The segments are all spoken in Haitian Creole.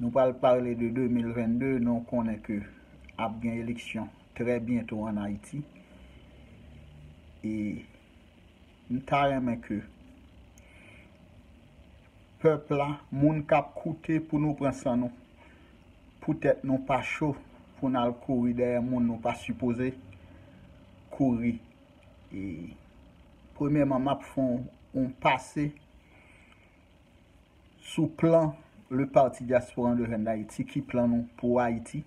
Nou pral parle de 2022 nou konnen ke ap gen eleksyon trè byento an Ayiti e m ta renmen ke pèp la, moun k ap koute pou nou pran san nou pou tèt nou pa cho pou n al kouri dèyè moun nou pa sipoze kouri e premyèman m ap fon on pase. sou plan Le Parti Diaspora Endogène d'Haïti, ki plan nou pou Ayiti.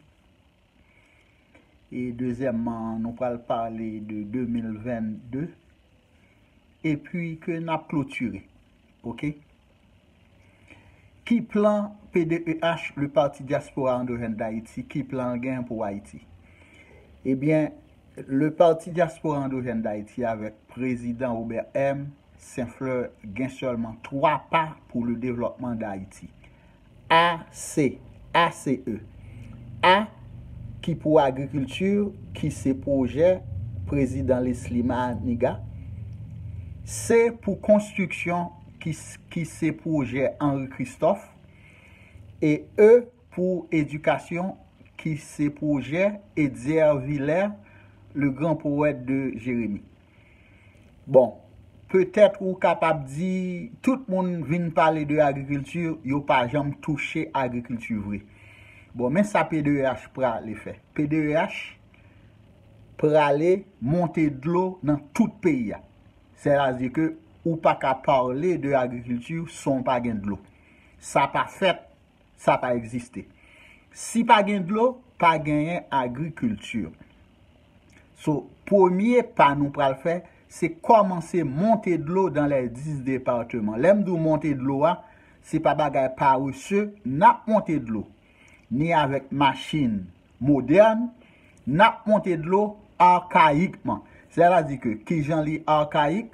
E dezyèmman, nou pral pale de 2022. E pi ke n ap klotire. Ok? Ki plan PDEH, Le Parti Diaspora Endogène d'Haïti, ki plan l gen pou Ayiti? Ebyen, Le Parti Diaspora Endogène d'Haïti avèk Prezidan Robert M. Senfleur gen sèlman 3 pa pou le devlòpman Dayiti. A. C. ACE. A. Ki pou agrikilti ki se pwojè Prezidan Lesly Maniga. C. Pou konstriksyon ki se pwojè Henri Christophe. E. E. Pou edikasyon ki se pwojè Etzer Vilaire, le grand poète de Jérémie. Bon, petèt ou kapab di, tout moun vin pale de agrikilti, yo pa janm touche agrikilti vre. Bon, men sa PDEH prale fè. PDEH prale monte dlo nan tout peyi a. Sètadi ke ou pa ka pale de agrikilti san w pa gen dlo. Sa pa fèt, sa pa egziste. Si pa gen dlo, pa genyen agrikilti. So, premye pa nou pral fè, se kòmanse monte dlo dan lè 10 departeman. Lè m di w monte dlo a, se pa bagay parese, n ap monte dlo. Ni avèk machin modèn, n ap monte dlo arkayikman. Sè la di ke, ki jan li arkayik,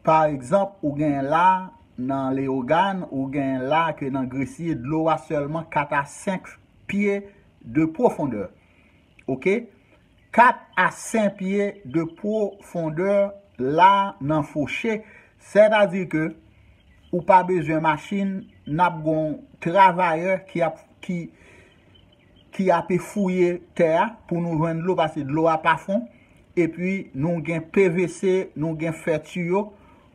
pa egzanp, ou gen la nan Leyogàn, ou gen la ke nan Gresye, dlo a sèlman 4 a 5 pye de pwofondè. ok 4 a 5 pye de pwo fondè la nan fouche sè ta di ke ou pa bezwen machin nap gon travayè ki ap ki ki ape fouye tè a pou nou jwenn dlo pase dlo a pa fon epi nou gen pvc nou gen fè tiyo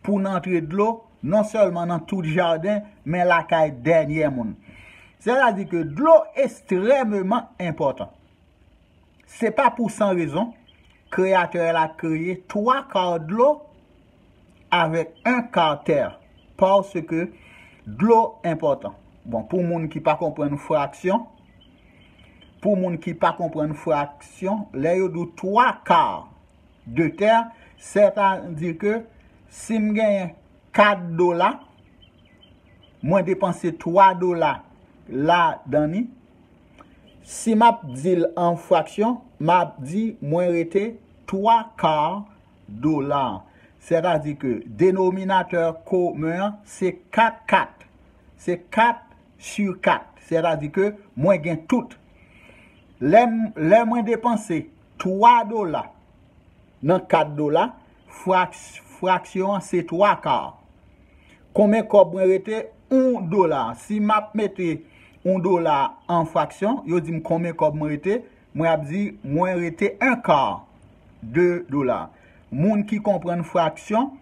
Pou n antre dlo, non sèlman nan tout jaden, men lakay dènyè moun. Sètadi ke dlo estrèmeman enpòtan. Se pa pou san rezon, Kreyatè la kreye twa kar dlo avèk en kar tè, paske dlo enpòtan. Bon, pou moun ki pa konprann fraksyon, pou moun ki pa konprann fraksyon, lè yo di w twa kar, de tè, sètadi ke si m genyen 4 dola, mwen depanse 3 dola ladani, si m ap di l an fraksyon, m ap di mwen rete 3 kar dola. Sètadi ke denominatè komen an se 4 kat, se 4 si 4, sètadi ke mwen gen tout. Lè mwen depanse. 3 dola nan 4 dola, fraksyon an se 3 kar. Konbyen kòb mwen rete? 1 dola. Si m ap mete 1 dola an fraksyon, yo di m konbyen kòb mwen rete, mwen ap di mwen rete 1 kar, 2 dola. Moun ki konprann fraksyon,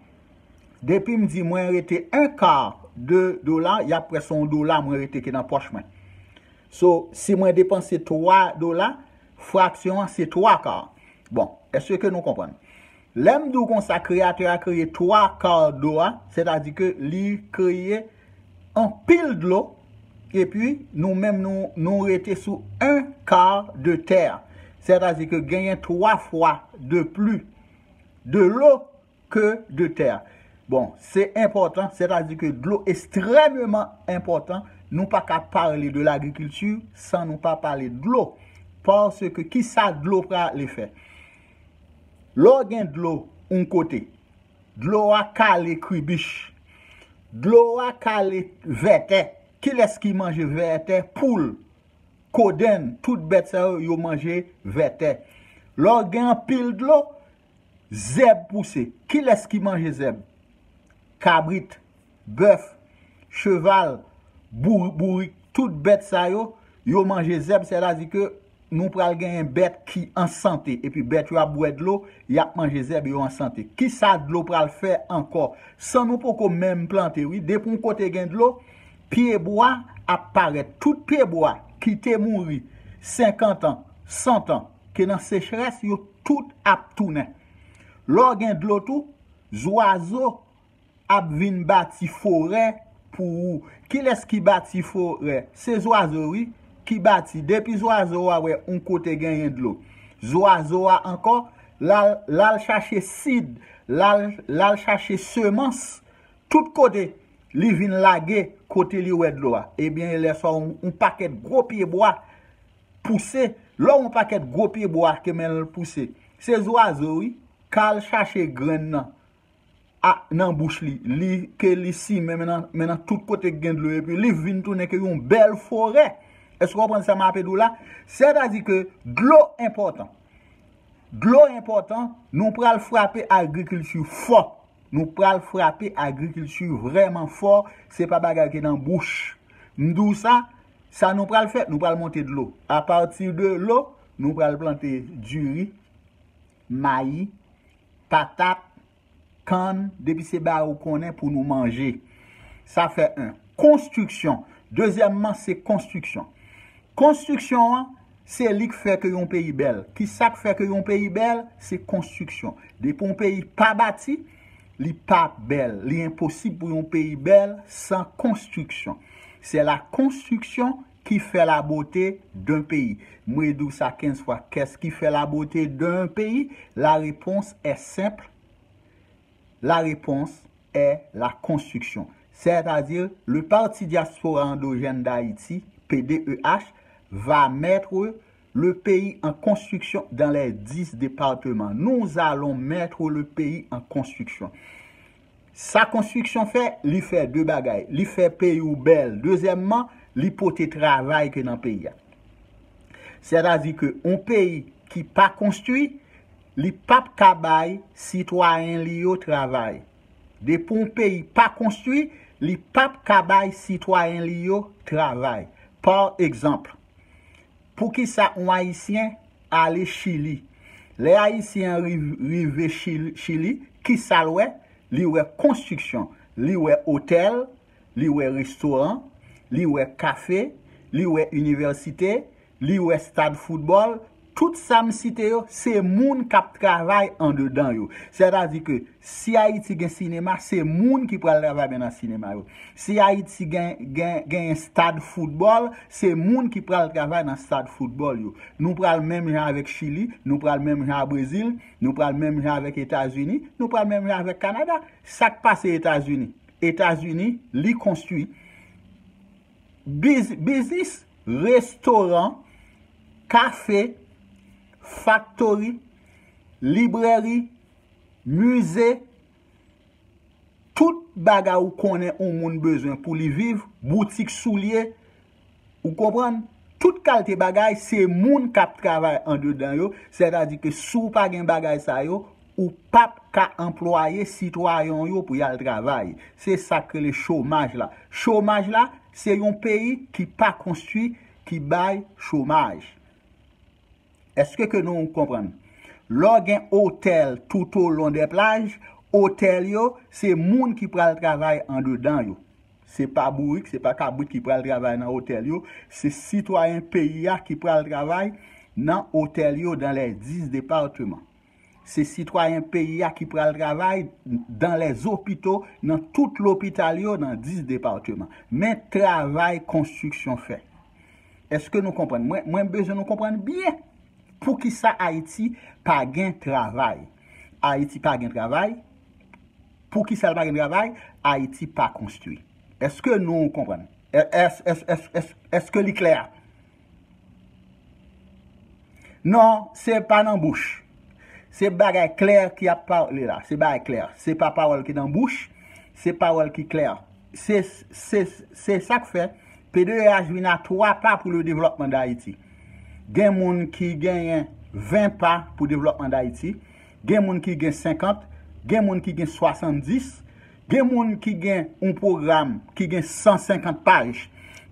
depi m di mwen rete 1 kar, 2 dola, y ap kwè se yon dola mwen rete ki nan pòch mwen. So, si mwen depanse 3 dola, Fraksyon an se twa ka. Bon, èske ke nou konprann? Lè m di w konsa, Kreyatè a kreye twa ka dlo a, sètadi ke li kreye anpil dlo, epi nou menm nou rete sou en ka de tè a. Sètadi ke genyen twa fwa de pli de lo. ke de tè a. Bon, se enpòtan, sètadi ke dlo estrèmeman enpòtan, nou pa ka pale de lagrikilti san nou pa pale dlo. Paske ki sa dlo prale fè? Lè w gen dlo yon kote, dlo a kale kribich, dlo a kale vètè, kilès ki manje vètè? Poul, kodenn, tout bèt sa yo, yo manje vètè. Lè w gen anpil dlo, Zèb pouse. Kilès ki manje zèb? Kabrit, bèf, cheval, bourik, tout bèt sa yo, yo manje zèb, sètadi ke nou pral genyen bèt ki an sante, epi bèt yo ap bwè dlo, y ap manje zèb, yo an sante. Kisa dlo pral fè ankò? San nou poko menm plante wi, depi yon kote gen dlo, pyebwa ap parèt. Tout pyebwa ki te mouri senkantan, santan. Ke nan sechrès yo tout ap tounen. Lè w gen dlo tou, zwazo ap vin bati forè pou ou. Kilès ki bati forè? Se zwazo wi, ki bati. Depi zwazo a wè yon kote genyen dlo, zwazo a ankò, l al chache sid, l al chache semans, tout kote, li vin lage kote li wè dlo a. Ebyen, lè sa a, yon pakèt gwo pyebwa pouse, lò yon pakèt gwo pye bwa te men l pouse. Se zwazo wi, kal chache grenn nan a nan bouch li, li ke li simen men nan men nan tout kote ki gen dlo epi li vin tounen ke yon bèl forè. Èske w konprann sa m ape di w la? Sètadi ke dlo enpòtan. Dlo enpòtan, nou pral frape agrikilti fò. Nou pral frape agrikilti vrèman fò, se pa bagay ki nan bouch. M di w sa. Sa nou pral fè, nou pral monte dlo. A pati de lo, nou pral plante diri, mayi, patat, kann, depi se bagay ou konnen pou nou manje. Sa fè 1. Konstriksyon. Dezyèmman, se konstriksyon. Konstriksyon an, se li k fè ke yon peyi bèl. Ki sa k fè ke yon peyi bèl? Se konstriksyon. Depi yon peyi pa bati. Li pa bèl. Li enposib pou yon peyi bèl san konstriksyon. Se la konstriksyon ki fè la bote d'un peyi. Mwe di w sa 15 fwa, kès ki fè la bote d'un peyi? La repons è senp, la repons è la konstriksyon. Sètadi, le Parti Diaspora Endogène d'Haïti, PDEH, va mettre le peyi an konstriksyon dan lè 10 departeman nou zalon mètre le peyi an konstriksyon sa konstriksyon fè li fè 2 bagay li fè peyi ou bèl dezyèmman li pote travay ke nan peyi a sètadi ke on peyi ki pa konstri li pap ka bay sitwayen li yo travay depi on peyi pa konstri li pap ka bay sitwayen li yo travay par egzanpl. Poukisa on Ayisyen ale Chili? Lè Ayisyen an rive Chili, kisa l wè? Li wè konstriksyon, li wè otèl, li wè restoran, li wè kafe, li wè inivèsite, li wè stad foutbòl, Tout sa m site yo, se moun k ap travay andedan yo. Sètadi ke si Ayiti gen sinema, se moun ki pral travay men nan sinema yo. Si Ayiti genyen stad foutbòl, se moun ki pral travay nan stad foutbòl yo. Nou pral menm jan avèk Chili, nou pral menm jan a Brezil, nou pral menm jan avèk Etazini, nou pral menm jan avèk Kanada. Sa k pase Etazini? Etazini, li konstwi. Biznis restoran, kafe, faktori, librèri, mize, tout bagay ou konnen yon moun bezwen pou li viv, boutik soulye, ou konprann, tout kalte bagay se moun k ap travay andedan yo, sètadi ke si w pa gen bagay sa yo, Ou pap ka anplwaye sitwayen w yo pou y al travay. Se sa k rele chomaj la. Chomaj la, se yon peyi ki pa konstwi ki bay chomaj. Eske ke nou konprann? Lè w gen otèl toutolon dè plaj, otèl yo, se moun ki pral travay andedan yo. Se pa bourik, se pa kabrit ki pral travay nan otèl yo. Se sitwayen peyi a ki pral travay nan otèl yo dan lè 10 departeman. Se sitwayen peyi a ki pral travay dan lè zo pito nan tout lopital yo nan 10 departeman. Men travay konstriksyon fè. Eske nou konprann? Mwen bezwen nou konprann byen pou ki sa Ayiti pa gen travay. Ayiti pa gen travay. Pou ki sa l pa gen travay? Ayiti pa konstwi. Eske nou konprann? Eske li klè? Non se pa nan bouch. Se bagay klè ki ap pale la. Se bagay klè. Se pa pawòl ki nan bouch. Se pawòl ki klè. Se se sa k fè PDH vin a 3 pa pou le devlòpman Dayiti. Gen moun ki genyen 20 pa pou devlòpman Dayiti. Gen moun ki gen 50. Gen moun ki gen 70. Gen moun ki gen yon pwogram ki gen 150 paj.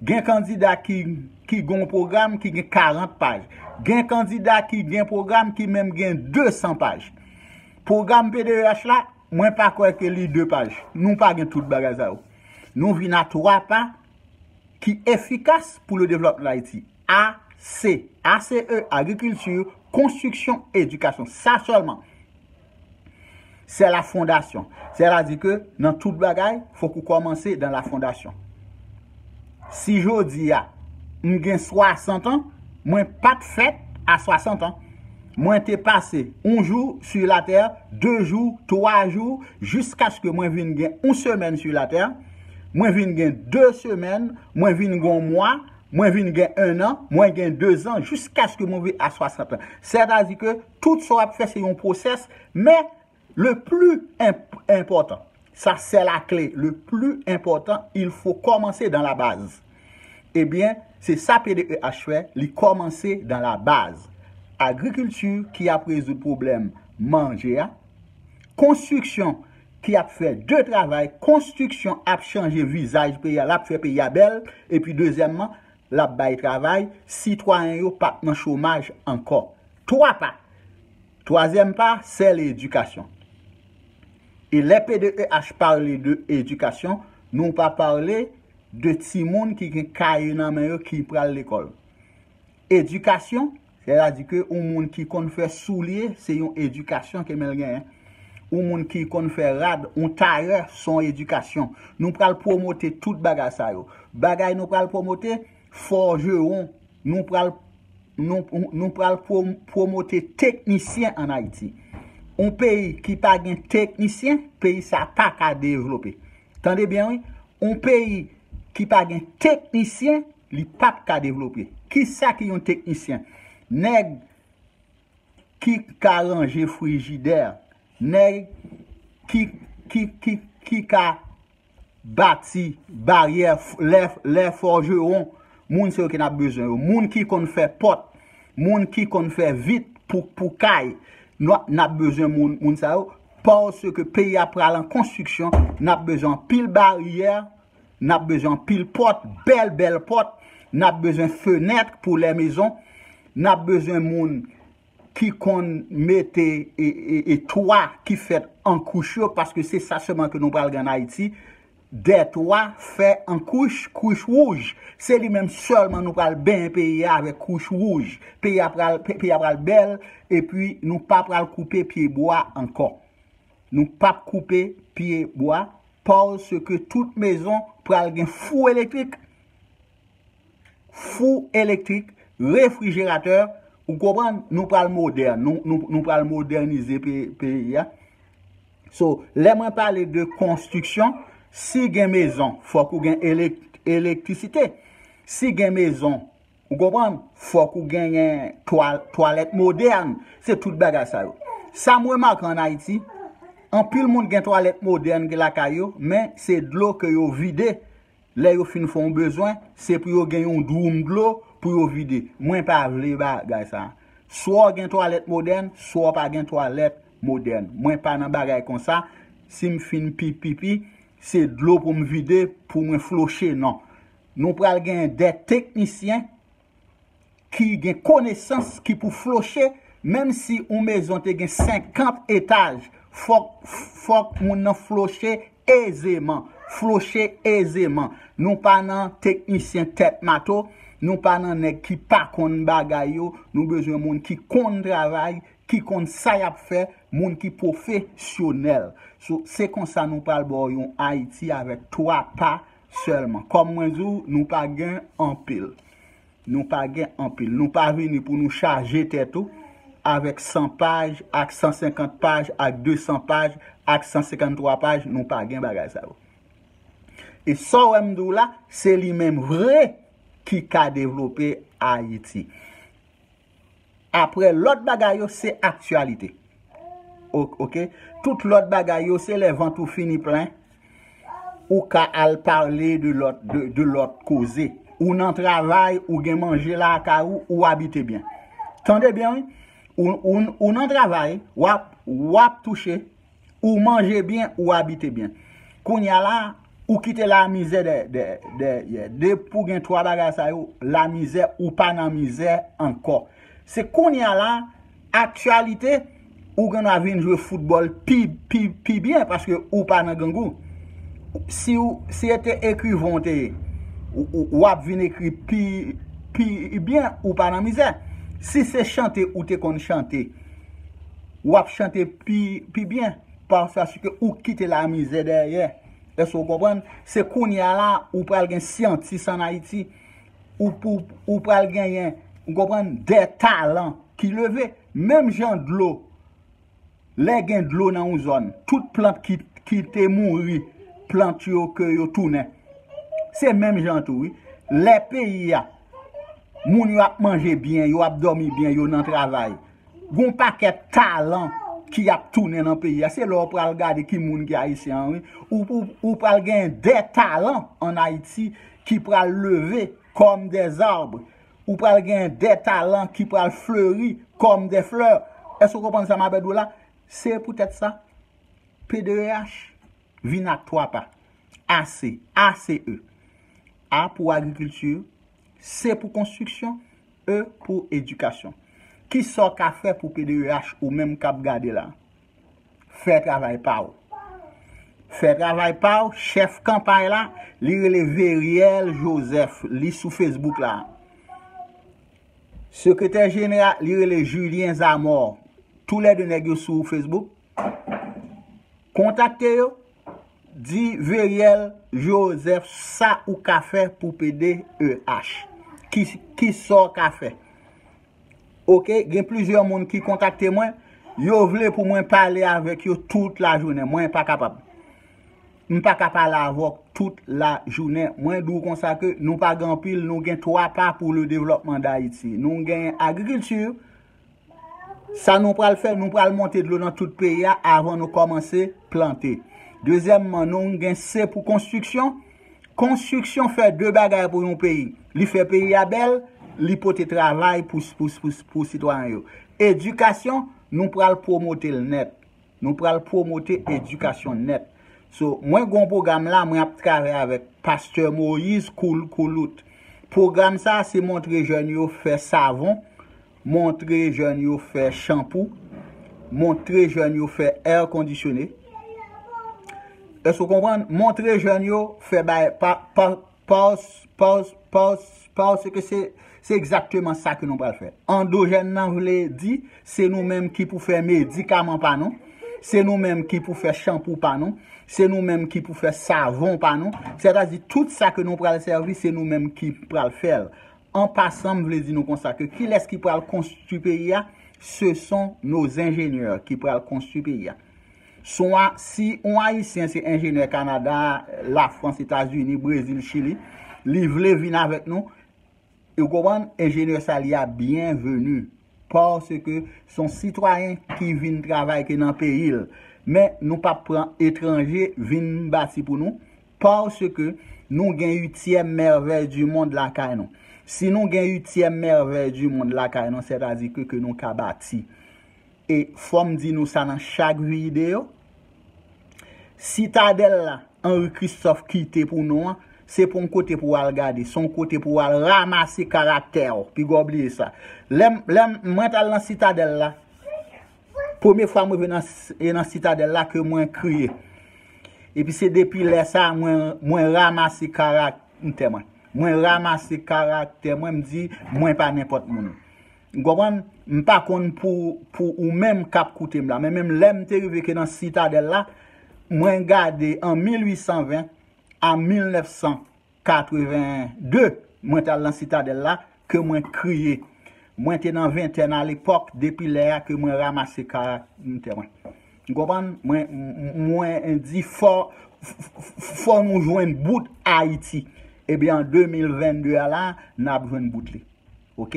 Gen kandida ki gen yon pwogram ki gen 40 paj. Gen kandida ki gen pwogram ki menm gen 200 paj. Pwogram PDEH la, mwen pa kwè ke li 2 paj. Nou pa gen tout bagay sa yo. Nou vin a 3 pa ki efikas pou le devlòpman de Ayiti. A, C. A, C, E, Agriculture, Construction, Education. Sa sèlman. Se la fondasyon. Se la di ke nan tout bagay, fok ou komanse dan la fondasyon. Si jodi a, m gen 60 an, mwen pat fèt a 60 an. Mwen te pase yon jou su la tè, 2 jou, 3 jou, jiskaske mwen vin gen yon semèn su la tè, mwen vin gen 2 semèn, mwen vin gen yon mwa, mwen vin gen 1 an, mwen gen 2 zan, jiskaske mwen vin a 60 an. Se ta di ke. Tout sa w ap fè se yon pwosès, men le pli enpòtan, sa sè la kle, le pli enpòtan il fo kòmanse dan la baz. Ebyen, se sa PDEH fè, li kòmanse dan la baz. Agrikilti ki ap rezoud pwoblèm manje a, konstriksyon ki ap fè de travay, konstriksyon ap chanje vizaj peyi a, l ap fè peyi a bèl, epi dezyèmman, l ap bay travay, sitwayen yo p ap nan chomaj ankò. Twa pa. Twazyèm pa, sè l edikasyon. E lè PDEH pale de edikasyon, nou pa pale de timoun ki gen kaye nan men yo ki pral lekòl. Edikasyon, Sètadi ke yon moun ki konn fè soulye, se yon edikasyon ke menl genyen. Yon moun ki konn fè rad, yon tayè, son edikasyon. Nou pral pwomote tout bagay sa yo. Bagay nou pral pwomote, fòjewon. Nou pral Nou pral pwomote teknisyen an Ayiti. Yon peyi ki pa gen teknisyen, peyi sa pa ka devlope. Tande byen wi, yon peyi ki pa gen teknisyen, Li pap ka devlope. Kisa ki yon teknisyen? Nèg ki ka ranje frijidè, nèg ki ki ki ki ka bati baryè lè lè fòjewon, moun se yo ke n ap bezwen yo. Moun ki konn fè pòt, moun ki konn fè vit pou pou kay, n ap n ap bezwen moun moun sa yo paske peyi a pral an konstriksyon, n ap bezwen anpil baryè Nap bezwen anpil pòt, bèl bèl pòt, nap bezwen fenèt pou lè mezon, nap bezwen moun ki konn mete e twa ki fèt an kouch yo paske se sa sèlman ke nou pral gen an Ayiti, dè twa fè an kouch, kouch wouj. Se li menm sèlman nou pral benyen peyi a avèk kouch wouj. Peyi a pral bèl epi nou pa pral koupe pye bwa ankò. Nou pap koupe pye bwa pawz se ke tout mezon pral gen fou elektrik. Fou elektrik, refrijeratè, ou konprann, nou pral modèn, nou pral modènize peyi a. So, lè mwen pale de konstriksyon, si gen mezon, fòk ou gen elektrisite. Si gen mezon, Ou konprann? Fòk ou genyen twalèt modèn. Se tout bagay sa yo. Sa m remake an Ayiti, anpil moun gen twalèt modèn ki lakay yo, men se dlo ke yo vide lè yo fin fè yon bezwen, se pou yo gen yon dwoum dlo pou yo vide. Mwen pa vle bagay sa. Swa w gen twalèt modèn, swa w pa gen twalèt modèn. Mwen pa nan bagay konsa, si m fin pipi, se dlo pou m vide pou mwen floche, non. Nou pral gen 2 teknisyen ki gen konesans ki pou floche menm si yon mezon te gen 50 etaj fòk fòk moun nan floche ezeman floche ezeman nou pa nan teknisyen tèt mato nou pa nan nèg ki pa konn bagay yo nou bezwen moun ki konn travay ki konn sa yap fè moun ki pwofe syonèl se konsa nou pral baw yon ayiti avèk 3 pa Sèlman. Kòm mwen di w, nou pa gen anpil. Nou pa gen anpil. Nou pa vini pou nou chaje tèt ou avèk 100 paj, ak 150 paj, ak 200 paj, ak 153 paj, nou pa gen bagay sa yo. E sa w wè m di w la, se li menm vre ki ka devlope Ayiti. Aprè lòt bagay yo se aktyalite. Ok. Tout lòt bagay yo se lè vant ou fini plen ou ka al pale de lòt koze. Ou nan travay, ou gen manje lakay ou, ou abite byen. Tande byen wi. Ou nan travay, wap touche. Ou manje byen, ou abite byen. Kounya la, ou kite lamizè dèyè. Depi ou gen 3 bagay sa yo, lamizè, ou pa nan mizè ankò. Se kounya la, aktyalite, ou gen dwa vin jwe foutbòl pi byen paske ou pa nan grangou. Si se te ekrivan ou te ye, ou ap vin ekri pi byen, ou pa nan mizè. Si se chante ou te konn chante, Wap chante pi byen paske ou kite la mizè dèyè eske ou konprann se kounya la ou pral gen syantis an ayiti ou pral genyen ou konprann de talan ki leve menm jan dlo lè gen dlo nan yon zòn tout plant ki te mouri plant yo ke yo tounen se menm jan tou wi lè peyi a moun yo ap manje byen yo ap domi byen yo nan travay Gon pakèt talan ki ap tounen nan peyi a. Se lè ou pral gade ki moun ki Ayisyen an wi. Ou pral gen de talan an Ayiti ki pral leve kòm de zarb. Ou pral gen de talan ki pral fleri kòm de flè. Èske ou konprann sa m ape di w la? Se poutèt sa, PDEH vin ak 3 pa. A, se, A, se, e. A pou agrikilti. C pou konstriksyon, E pou edikasyon. Kisa w ka fè pou PDEH ou menm k ap gade la? Fè travay pa w. Fè travay pa w, chèf kanpay la, li rele Veriel Joseph, li sou Facebook la. Sekretè jenera, li rele Julien Zamor. Tou lè de nèg yo sou Facebook. Kontakte yo, di Veriel Joseph sa ou ka fè pou pede EH. Ki ki sa w ka fè. Ok, gen plizyè moun ki kontakte mwen, yo vle pou mwen pale avèk yo tout lajounen. Mwen pa kapab. M pa ka pale avè w tout lajounen. Mwen di w konsa ke nou pa gen anpil, nou gen 3 pa pou le devlòpman Dayiti. Nou gen agrikilti, Sa nou pral fè, nou pral monte dlo nan tout peyi a avan nou kòmanse plante. Dezyèmman, nou gen se pou konstriksyon. Konstriksyon fè de bagay pou yon peyi. Li fè peyi a bèl, li pote travay pou sitwayen yo. Edikasyon, nou pral pwomote l nèt. Nou pral promote edikasyon nèt. So, mwen gon pwogram la mwen ap travay avèk Pastè Moïse Koul Koulout. Pwogram sa se montre jèn yo fè savon, montre jèn yo fè chanpou, montre jèn yo fè air conditionné. Èske w konprann? Montre jèn yo fè bay pa, pa, Pause, pause, pause, pause, se ke se, se egzakteman sa ke nou pral fè. Andojèn nan vle di, se nou menm ki pou fè medikaman pa nou, se nou menm ki pou fè chanpou pa nou, se nou menm ki pou fè savon pa nou, sètadi tout sa ke nou pral sèvi, se nou menm ki pral fè l. An pasan, m vle di nou konsa ke kilès ki pral konstwi peyi a? Se son nos ingénieurs ki pral konstwi peyi a. Son a si on ayisyen se enjenyè Canada, la France, Etats Unis, Brésil, Chili li vle vin avèk nou ou konprann enjenyè sa li a byen venu paske son sitwayen ki vin travay ke nan peyil men nou pap pran etranje vin bati pou nou paske nou gen ityèm mèvèy di mond lakay nou si nou gen ityèm mèvèy di mond lakay nou sètadi ke ke nou ka bati. E fòm di nou sa nan chak viyideyo, Sitadèl la Henri Christophe kite pou nou an, se pa yon kote pou w al gade, se yon kote pou w al ramase karaktè w. Piga w bliye sa. Lè m, lè m, mwen t al nan Sitadèl la, premye fwa m rive nan, e nan Sitadèl la ke mwen kriye. Epi se depi lè sa a mwen, mwen ramase karaktè mwen. Mwen ramase karaktè mwen, m di mwen pa nenpòt moun. N konprann? M pa konn pou pou ou menm k ap koute m la, men menm lè m te rive ke nan Sitadèl la, mwen gade an 1820 a 1982, mwen t al nan Sitadèl la, ke mwen kriye. Mwen te nan ventèn alepòk, depi lè a ke mwen ramase karaktè mwen. N konprann? Mwen, mwen di fò, fò nou jwenn bout Ayiti. Ebyen an 2022 a la, n ap jwenn bout li. ok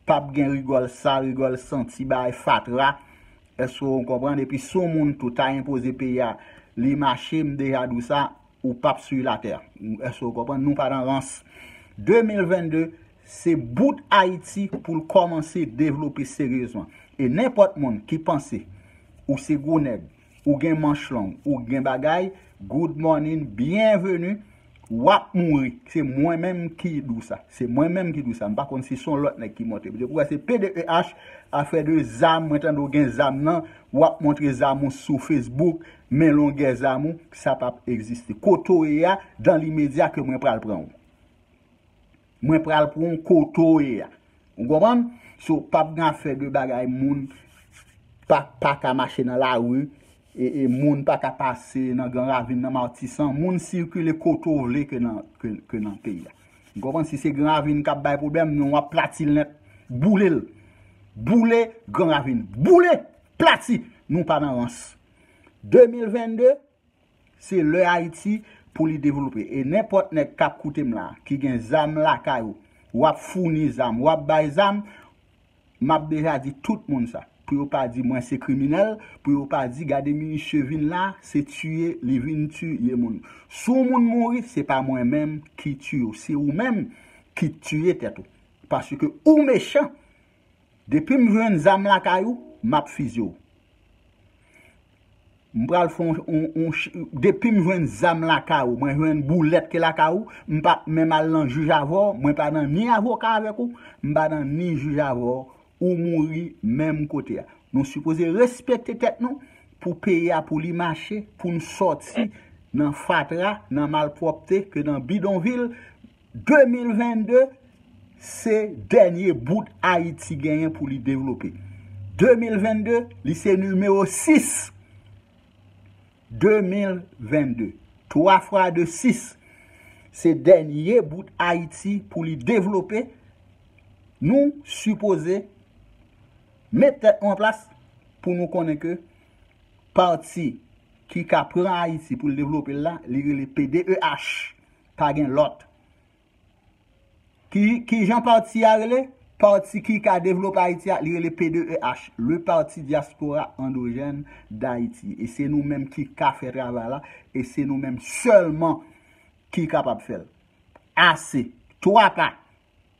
pap gen rigòl sal rigòl santi bagay fatra èske ou konprann epi si yon moun tou ta enpoze peyi a li mache m deja di w sa ou pap sur la terre èske ou konprann nou pa nan rans 2022 se bout ayiti pou l kòmanse devlope seryezman e nenpòt moun ki panse ou se gwo nèg ou gen manch long ou gen bagay good morning byen veni wap mouri se mwen menm ki dou sa se mwen menm ki dou sa mpa konn si son lot neg ki monte m depi wè se pdh afè de zam mwen tande w gen zam nan wap montre zam ou sou facebook men longè zam ou sa pap egziste kote w ye a dan limedya ke mwen pral pran w. Mwen pral pranw kote w ye a. Ou konprann? So pap gen afè de bagay moun pa ka mache nan lari, moun pa ka pase nan gran ravin nan matisan, moun sikile kote w vle ke nan peyi a. Ou konprann? Si se gran ravin kap bay pwoblèm, nou ap plati l nèt, boule l. Boule gran ravin. Boule! Plati! Nou pa nan rans. 2022, Se lè Ayiti pou li devlope e nenpòt nèg kap koutem la ki gen zam lakay ou wap founi zam wap bay zam map deja di tout moun sa pou yo pa di mwen se kriminèl pou yo pa di gade minisye vin la se tiye li vin ti ye moun si yon moun mouri se pa mwen menm ki tiye w se ou menm ki tiye tèt ou paske ou mechan. Depim jwenn zam lakay ou map fizye w. M pral fon yon depim jwenn zam lakay ou mwen jwenn boulèt ki lakay ou m pap menm al nan jij avè w mwen pa nan ni avoka avèk ou m pa nan ni jij avè w ou mouri menm kote a. Nou sipoze respekte tèt nou pou peyi a pou li mache pou n sòti nan fatra nan malpwòpte ke nan bidonvil 2022 se dènye bout Ayiti genyen pou li devlope. 2022 li se nimewo 6. 2022, 3 fwa 2 6, se dènye bout Ayiti pou li devlope. Nou sipoze met tèt nou an plas pou nou konnen ke pati ki ka pran Ayiti pou li devlope l la, li rele PDEH. pa gen lòt. Ki kijan pati a rele? Pati ki ka devlope Ayiti a, li rele P2EH, Le Parti Diaspora Endogène d'Haïti. E se nou menm ki ka fè travay la, e se nou menm sèlman ki kapab fè l. Ase! Twa pa!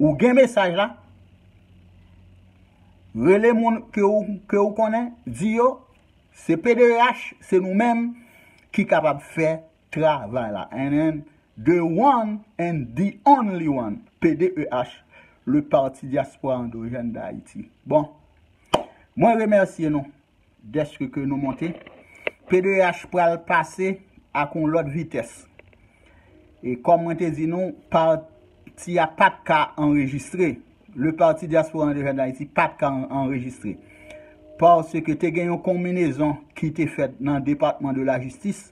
Ou gen mesaj la? Rele moun ke ou konnen, di yo, se PDH, se nou menm ki kapab fè travay la. And then, the one and the only one, PDH, le Parti Diaspora Endogène d'Haïti. Bon, mwen remèsye nou. deske ke nou monte, pdh pral pase ak yon lòt vitès. E kòm mwen te di nou, pati a pat ka anrejistre. Le Parti Diaspora André Jeunes d'Haïti pat ka anrejistre. Paske te gen yon konminezon ki te fèt nan Depatman de la Jistis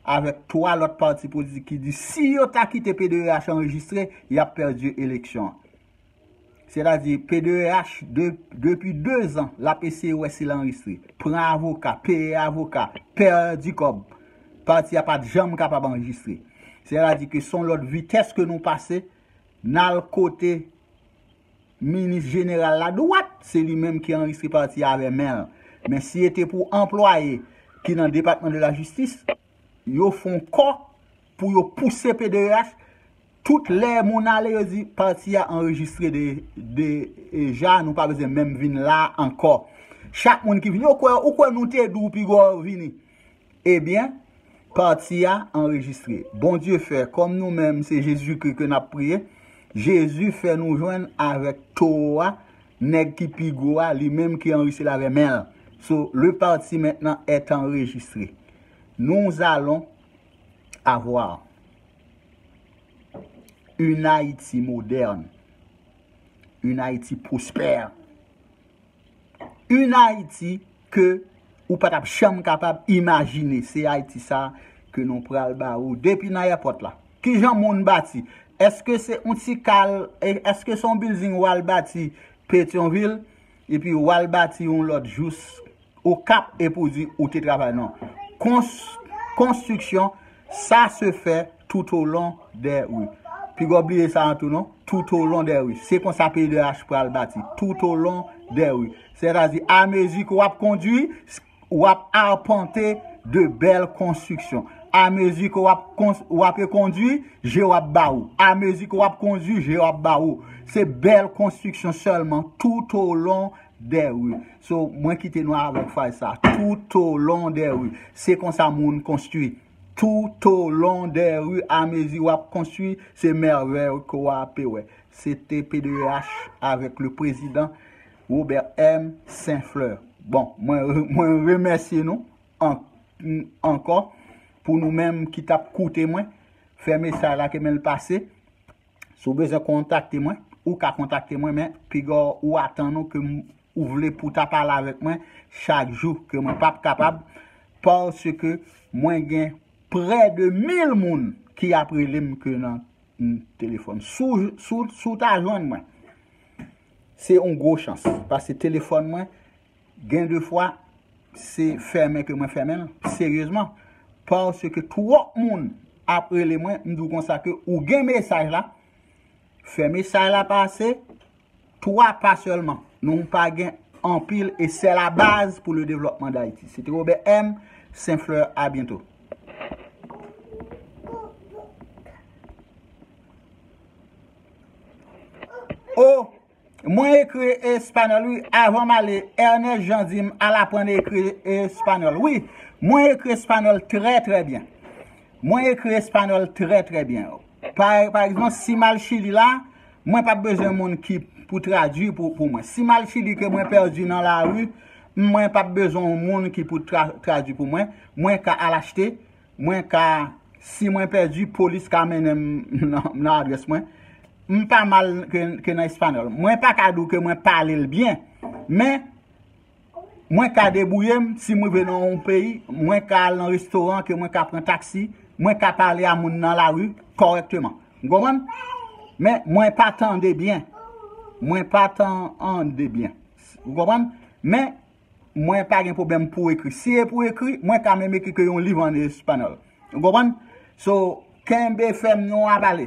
avèk 3 lòt pati politik ki di si yo ta kite pdh anrejistre, y ap pèdi eleksyon an. Sètadi, PDEH, depi 2 zan, l ap eseye wè si l anrejistre. Pran avoka, peye avoka, pèdi kòb. Pati a pa t janm kapab anrejistre. Sètadi ke s on lòt vitès ke nou pase, n al kote minis jeneral la dwat, se li menm ki anrejistre pati a avè men l. Men si e te pou anplwaye ki nan Depatman de la Jistis, yo fon kò pou yo pouse PDEH, Tout lè moun ale yo di pati a anrejistre deja nou pa bezwen menm vin la ankò. Chak moun ki vini yo kwè ou kwè nou te di w pi gò vini. Ebyen pati a anrejistre. Bondye fè kòm nou menm se Jezikri ke n ap priye, Jezi fè nou jwenn avèk towo a, nèg ki pi gwo a, li menm ki anrejistre l avè men l. So le parti maintenant est enregistré. Nous allons avoir. Yn Ayiti modern. Yn Ayiti prospère. Yn Ayiti ke ou pa tap janm kapab imajine. Se Ayiti sa ke nou pral ba ou depi nan èpòt la. Kijan moun bati? Eske se yon ti kal, eske se yon building ou al bati Petyonvil? Epi wal bati yon lot jous ou kap e pou di ou te travay non. Konstriksyon sa se fè toutolon dè ri. Pigaw bliye sa an tou non. Toutolon dè ri. Se konsa peyidh pral bati. Toutolon dè ri. Sètadi amezi ke wap kondwi. Ou ap arpante de bèl konstriksyon. A mezi ke w ape kondui, je w ap ba ou. A mezi ke w ap kondui, je w ap ba ou. Se bèl konstriksyon sèlman toutolon dè ri. So, mwen kite nou avèk fraz sa. Toutolon dè ri. Se konsa moun konstui. Toutolon dè ri, a mezi w ap konstui, se mèvèy ke w ape wè. Se te PDEH avèk le prezidan. Robert M. Saint Fleur. Bon, mwen remèsye nou ankò pou nou menm ki t ap koute mwen. Fè mesaj la ke men l pase. Si w bezwen kontakte mwen, ou ka kontakte mwen men piga ou atan nou ke ou vle pou ta pale avèk mwen chak jou ke mwen pap kapab paske mwen gen prè de 1000 moun ki ap rele m ke nan telefòn. Si w ta jwenn mwen Se yon gwo chans. Paske telefòn mwen, gen de fwa, se fèmen ke mwen fèmen l. Seryezman. Paske twòp moun ap rele mwen, m di w konsa ke ou gen mesaj la, fè mesaj la pase, 3 pa sèlman. Nou pa gen anpil e sè la baz pou le devlòpman dayiti. Se te Robè M. Sen Flè. A byento. Oh mwen ekri espanol wi avan m ale Ernest Jean di m al aprann ekri espanol wi mwen ekri espanol trè trè byen mwen ekri espanol trè trè byen pa egzanp si m al chili la mwen pap bezwen moun ki pou tradwi pou mwen si m al chili ke mwen pèdi nan lari mwen pap bezwen moun ki pou tradwi pou mwen mwen ka al achte Mwen ka, si mwen pèdi, polis ka mennen m nan adrès mwen. M pa mal ke nan espanol. Mwen pa ka di w ke mwen pale l byen, men mwen ka debouye m si m rive nan yon peyi, mwen ka al nan restoran ke mwen ka pran taksi, mwen ka pale a moun nan lari kòrèkteman. Ou konprann? Men mwen pa tande byen. Mwen pa tande byen. Ou konprann? Men. Mwen pa gen pwoblèm pou ekri. Si e pou ekri, mwen ta menm ekri ke yon liv an espanol. Ou konprann? So, kenbe fèm nou a pale.